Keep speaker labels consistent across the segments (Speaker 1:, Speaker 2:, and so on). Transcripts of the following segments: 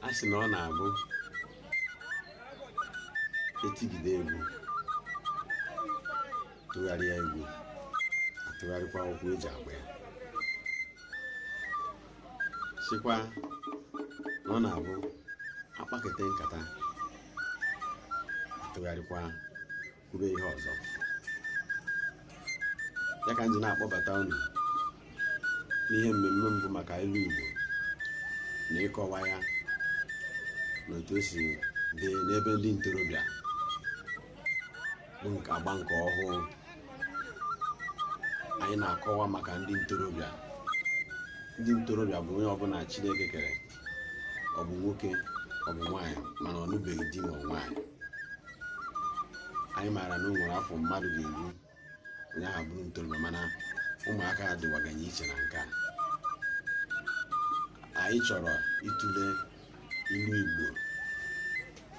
Speaker 1: a sị na ọ na-abụ etigide egwu tụgharịa egwu atụgharịkwa ụkwụ eji agba ya sịkwa na ọ na-abụ akpakete nkata atụgharịkwa kwube ihe ọzọ ya ka m ji na-akpọbata unu n'ihe mmemme m bụ maka ilu Igbo na ịkọwa ya na otu o si dị n'ebe ndị ntorobịa bụ nke agba nke ọhụụ anyị na-akọwa maka ndị ntorobịa ndị ntorobịa bụ onye ọbụla Chineke kere ọ bụ nwoke ọ bụ nwaanyị mana ọ nụbeghị di ma nwaanyị anyị maara na o nwere afọ mmadụ ga-eru onye ahụ bụrụ ntorobịa mana ụmụaka adịwaganye iche na nke a anyị chọrọ ịtụle ilu Igbo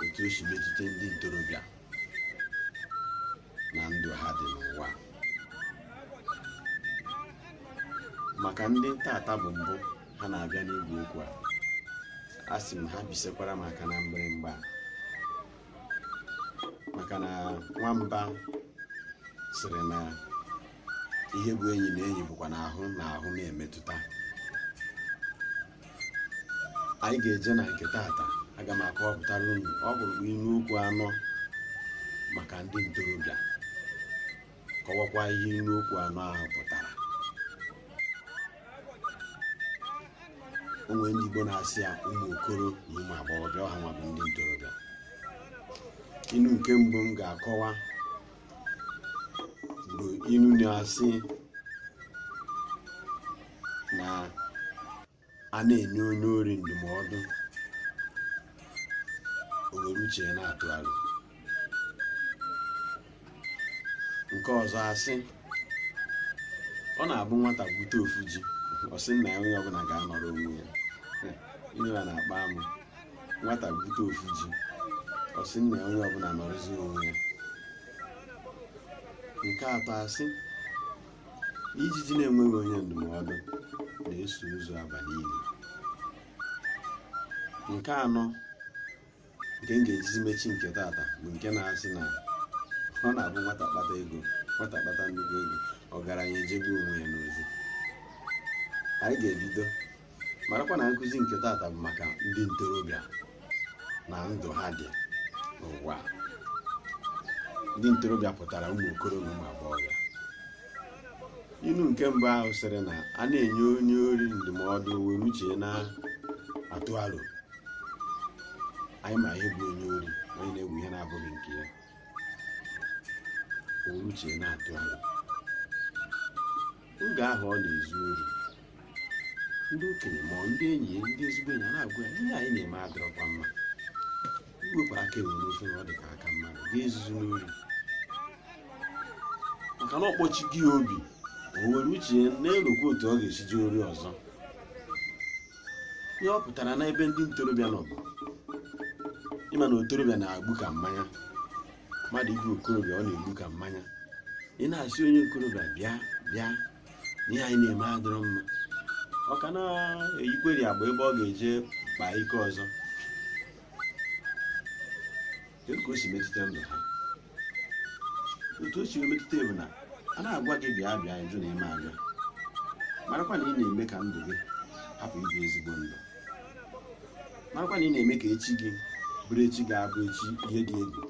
Speaker 1: otu o si metụta ndị ntorobịa na ndụ ha dị n'ụwa maka ndị tata bụ mbụ ha na-abịa n'igwe okwu a a sị m ha bisekwara m aka na mgbịrịmgba maka na nwamba sịrị na ihe bụ enyi na enyi bụkwa na ahụ na ahụ na-emetụta anyị ga-eje na nke tata aga m akọwapụtara unu ọ bụrụ bụ ilu okwu anọ maka ndị ntorobịa kọwakwa ihe ilu okwu anọ ahụ pụtara o nwe ndị Igbo na-asị ya ụmụ okoro na ụmụ agbọghọbịa ọ ha nwa bụ ndị ntorobịa ilu nke mbụ m ga-akọwa bụ inu na-asị na a na-enye onye ori ndụmọdụ o were uche ya na-atụ aro nke ọzọ asị ọ na-abụ nwata gwute ofu ji ọ sị nna ya onye ọbụla ga-anọrọ onwe ya ihe a na-akpa amụ nwata gwute ofu ji ọ sị nna ya onye ọbụla nọrọzi onwe ya nke atọ asị ijiji na-enweghị onye ndụmọdụ na-eso ozu aba n'ili nke anọ nke m ga-ejizi mechi nke tata bụ nke na-asị na ọ na-abụ nwata kpata ego nwata kpata nnukwu ego ọgaranya ejebe onwe ya n'ozi anyị ga-ebido marakwa na nkụzi nke tata bụ maka ndị ntorobịa na ndụ ha dị n'ụwa ndị ntorobịa pụtara ụmụ okoro na ụmụ agbọghọbịa inu nke mbụ ahụ sịrị na a na-enye onye ori ndụmọdụ were uche na-atụ aro anyị ma ihe bụ onye ori onye na-ewe ihe na-abụghị nke ya were uche na-atụ aro oge ahụ ọ na-ezu ori ndị okenye ma ọ ndị enyi ya ndị ezigbo enyi a na-agwa ya ihe a ị na-eme adịrọkwa mma iwepụ aka enwe n'ofe na ọ dị ka aka mmadụ gị ezuzina ori maka na ọkpọchi gị obi o were uche ya na-erokwa otu ọ ga-esi je ori ọzọ ihe ọ pụtara n'ebe ndị ntorobịa nọ bụ ị ma na okorobịa na-egbu ka mmanya mmadụ ịbụ okorobịa ọ na-egbu ka mmanya ị na-asị onye okorobịa bịa bịa ihe a ị na-eme adịrọ mma ọ ka na-eyikwarị agba ebe ọ ga-eje kpaa ike ọzọ kedu ka o si metụta ndụ ha otu o si metụta bụ na a na-agwa gị bịa bịa ị jụ na ị ma abịa marakwa na ị na-eme ka ndụ gị hapụ ịbụ ezigbo ndụ marakwa na ị na-eme ka echi gị bụrụ echi ga-abụ echi ihe dị egwu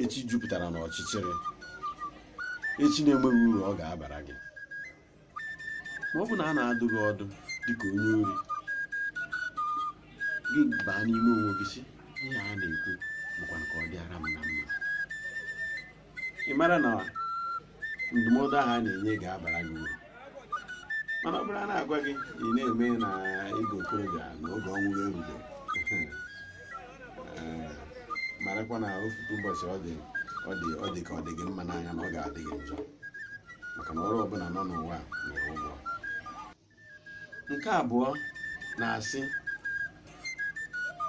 Speaker 1: echi jupụtara n'ọchịchịrị echi na-enweghị uru ọ ga-abara gị ma ọ bụ na a na-adụ gị ọdụ dịka onye ori gị baa n'ime onwe gị sị ihe a na-ekwu bụkwanụ ka ọ dịara m na mma ị mara na ndụmọdụ ahụ a na-enye ga-abara gị uru mana ọ bụrụ a na-agwa gị ị na-eme na ị bụ okorobịa na oge ọṅụ gị erugo Ee, marakwa na ofu ụbọchị ọ dị ọ dị ọ dị ka ọ dị gị mma n'anya na ọ ga-adị gị njọ maka na ọrụ ọbụla nọ n'ụwa nwere ụgwọ nke abụọ na-asị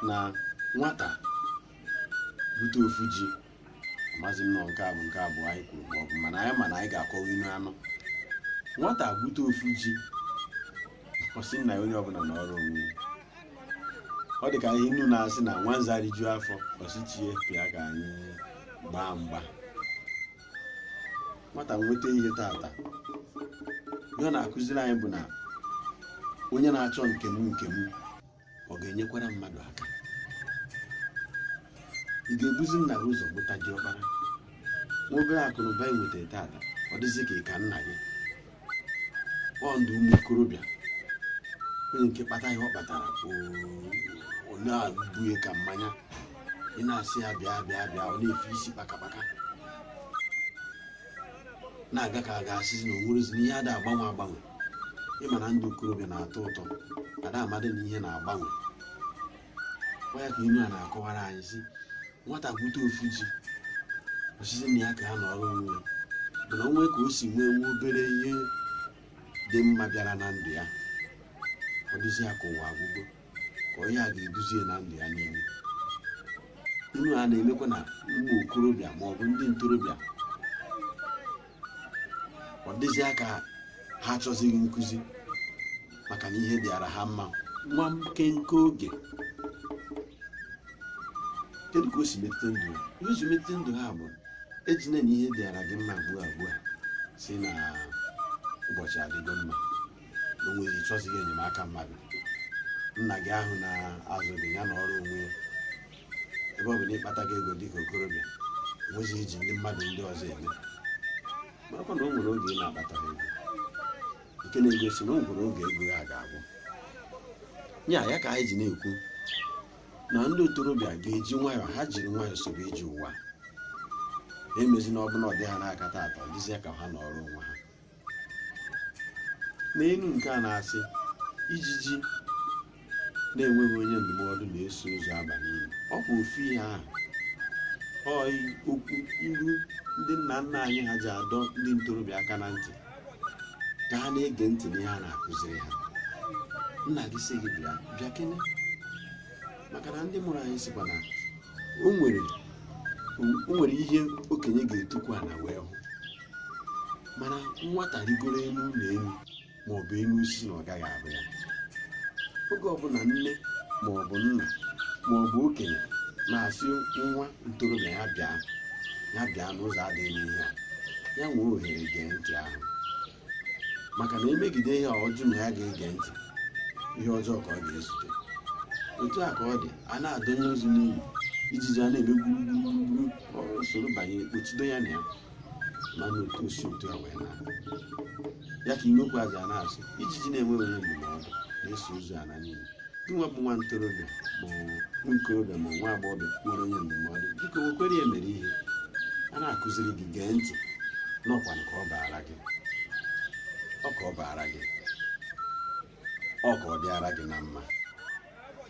Speaker 1: na nwata bute ofu ji amazi m nọ nke a bụ nke abụọ anyị kwuru ma ọ bụ mana anyị ma na anyị ga-akọwa inu anọ nwata bute ofu ji ọ sị nna ya onye ọbụla nọrọ onwe ya ọ dị ka ihe inu na-asị na nwanza rijuo afọ ọ sị chi ya bịa ka anyị gbaa mgba nwata nweta ihe tata ihe ọ na-akụziri anyị bụ na onye na-achọ nke m nke m ọ ga-enyekwara mmadụ aka ị ga-ebuzi nna gị ụzọ mụta diọkpara nwa obere akụ na ụba ị nwetara tata ọ dịzi ka ị ka nna gị ọ ndụ ụmụ okorobịa onye nke kpata ihe ọ kpatara ọ na-egbu ya ka mmanya ị na-asị ya bịa bịa bịa ọ na-efe isi kpakakpaka na-aga ka a ga-asịzi na o nwerezi na ihe ada agbanwe agbanwe ịma na ndụ okorobịa na-atọ ụtọ ada amadị na ihe na-agbanwe ọ ya ka ilu a na-akọwara anyị sị nwata gwute ofu ji ọ sị sị nna ya ka ha nọrọ onwe ya mana o nwe ka o si nwee nwa obere ihe dị mma bịara na ndụ ya ọ dịzi ya ka ụwa agwụgo ka onye a ga-eduzi ya na ndụ ya niile ilu a na-emekwa na ụmụ okorobịa ma ọ bụ ndị ntorobịa ọ dịzịa ka ha achọzighị nkụzi maka na ihe dịara ha mma nwa nkenke oge kedu ka o si metụta ndụ ha ihe o si metụta ndụ ha bụ ejine na ihe dịara gị mma ugbu a ugbu a sị na ụbọchị adịgo mma na onwe gị chọzighị enyemaka mmadụ nna gị ahụ na-azụ gị ya nọrọ onwe ya ebe ọ bụ na ị kpatago ego dịka okorobịa nwezi ihe i ji ndị mmadụ ndị ọzọ eme marakwa na o nwere oge ị na-akpataghị ego nke na-egosi na o nwere oge ego ya ga-agwụ ya ya ka anyị ji na-ekwu na ndị ntorobịa ga-eji nwayọọ ha jiri nwayọọ sobe ije ụwa emezina ọbụla ọ dị ha n'aka tata ọ dịzịa ka ha nọrọ onwe ha n'elu nke a na-asị ijiji na-enweghị onye ndụmọdụ na-eso ozu aba n'ini ọ bụ ofu ihe ahụ ọị okwu ilu ndị nna nna anyị ha ji adọ ndị ntorobịa aka na ntị ka ha na-ege ntị n'ihe a na-akụziri ha nna gị sị gị bịa bịa kene maka na ndị mụrụ anyị sịkwa na o nwere o nwere ihe okenye ga-etukwu ana wee hụ mana nwata rigoro elu ụlọ elu ma ọ bụ elu osisi na ọ gaghị ahụ ya oge ọbụla nne ma ọ bụ nna ma ọ bụ okenye na-asị nwa ntorobịa ya bịa ya bịa n'ụzọ adịghị ihe a ya nwee ohere gee ntị ahụ maka na e megide ihe a ọ jụ na ya ga-ege ntị ihe ọjọọ ka ọ ga-ezute otu a ka ọ dị a na-adọnye ozu n'ini ijiji a na-eme gburugburu ọ soro banye kpochido ya na ya mana otu o si otu a wee naa ya ka ilu kwuzi a na-asị ijiji na-enweghị onye ndụmọdụ na-eso ozu ana n'ini nwa bụ nwa ntorobịa ma ọ bụ nwa okorobịa ma ọ bụ nwa agbọghọbịa nwere onye ndụmọdụ biko wekwere ya mere ihe a na-akụziri gị gee ntị n'ọkwa nke ọ baara gị ọ ka ọ baara gị ọ ka ọ dịara gị na mma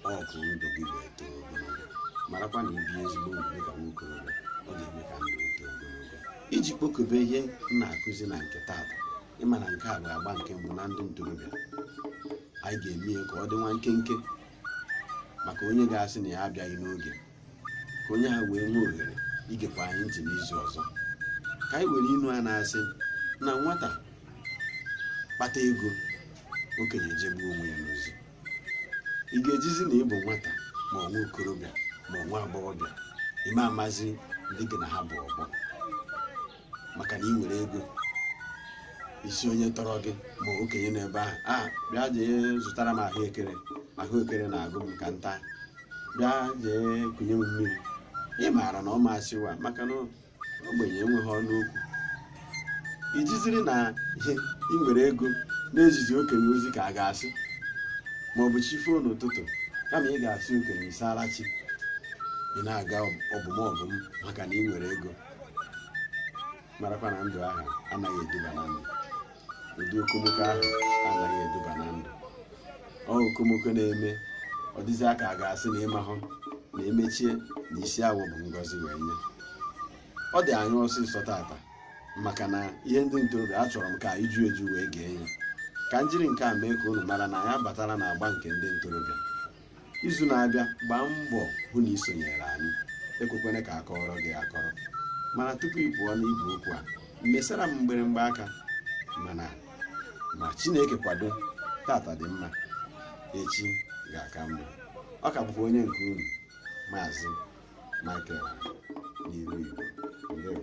Speaker 1: ọ ka ndụ gị ga-eto ogologo marakwa na ibi ezigbo ndụ dịka nwa okorobịa ọ ga-eme ka ndụ gị too ogologo iji kpokọbe ihe m na-akụzi na nke taata ị ma na nke a bụ agba nke mbụ na ndị ntorobịa anyị ga-eme ya ka ọ dị nwa nkenke maka onye ga-asị na ya abịaghị n'oge ka onye ahụ wee nwee ohere igekwa anyị ntị n'izu ọzọ ka anyị were inu a na-asị na nwata kpata ego okenye ejegbu onwe ya n'ozi ị ga-ejizi na ị bụ nwata ma ọ nwa okorobịa ma ọ nwa agbọghọbịa ị ma amazi ndị gị na ha bụ ọgbọ maka na ị nwere ego ị sị onye tọrọ gị ma okenye nọ ebe ahụ bịa jee zụtara m ahụekere na-agụ m kịta bịa jee kunye m mmiri ị maara na ọ ma asị waa maka na ogbenye enweghị ọnụ okwu i jiziri na ị nwere ego na-ezizi okenye ozi ka a ga-asị ma ọ bụ chi foo n'ụtụtụ kama ị ga-asị okenye ị saala chi ị na-aga ọbụmọbụm maka na ị nwere ego marakwa na ndụ ahụ anaghị eduba na ndụ ụdị okomoko ahụ anaghị eduba na ndụ ọ okomoko na-eme ọ dịzie ka a ga-asị na ị mahụ na e mechie na isi awọ bụ ngọzi wee nye ọ dị anyị ọsịsọ tata maka na ihe ndị ntorobịa achọrọ m ka anyị ju eju wee gee ya ka m jiri nke a mee ka unu mara na anyị abatala na agba nke ndị ntorobịa izu na-abịa gbaa mbọ hụ na i sonyere anyị ekwekwana ka a kọọrọ gị akọrọ mana tupu ị pụọ n'igwe okwu a mesara m mgbịrịgba aka mana ma chineke kwado tata dị mma echi ga-aka mma ọ ka bụkwa onye nke unu maazị michael n'ilu igbo ndewo